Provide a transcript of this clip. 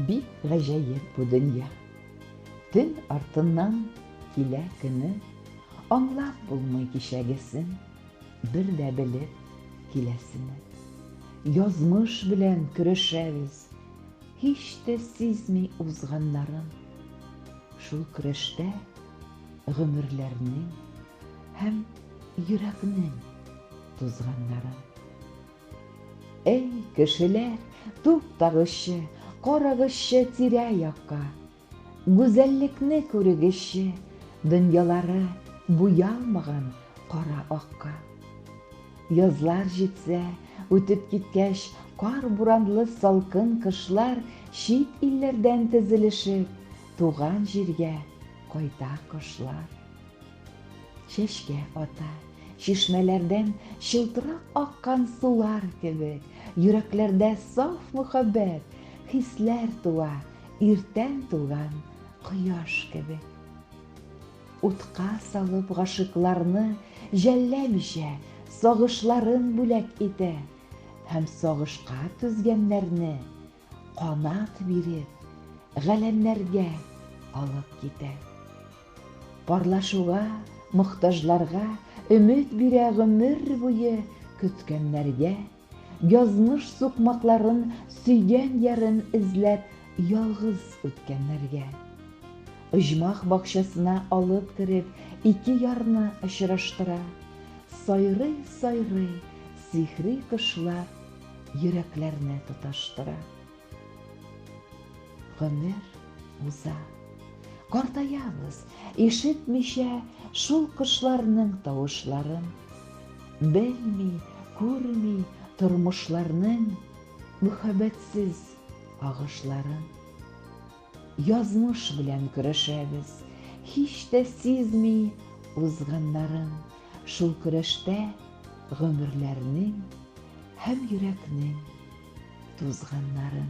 Бик гаҗәеп бу дөнья. Төн артыннан килә көне, Аңлап булмый кичәгесен, Бер дә белеп киләсене. Язмыш белән көрәшәбез, Һич тә сизми узганнарын. Шул көрәштә гомерләрнең Һәм йөрәкнең тузганнарын. Эй, кешеләр, туктагызчы, карагызчы тирә-якка. Гүзәллекне күрегезче, дөньялары буялмаган кара акка. Язлар җитсә, үтеп киткәч, кар-буранлы салкын кышлар чит илләрдән тезелешеп, туган җиргә кайта кошлар. Чәчкә ата, чишмәләрдән чылтырап аккан сулар кебек, йөрәкләрдә саф мөхәббәт, хисләр туа, иртән туган кояш кебек. Утка салып гашыйкларны жәлләмичә, сагышларын бүләк итә һәм сагышка түзгәннәрне Канат биреп, галәмнәргә алып китә. Парлашуга, мохтажларга өмет бирә гомер буе көткәннәргә, язмыш сукмакларын сөйгән ярын эзләп ялгыз үткәннәргә. Оҗмах бакчасына алып кереп, ике ярны очраштыра. Сайрый-сайрый, сихри кошлар Йөрәкләрне тоташтыра. Гомер уза. Картаябыз, ишетмичә шул кошларның тавышларын. Белми, күрми тормышларның мөхәббәтсез агышларын. Язмыш белән көрәшәбез, һич тә сизми узганнарын, шул көрәштә гомерләрнең һәм йөрәкнең тузганнарын.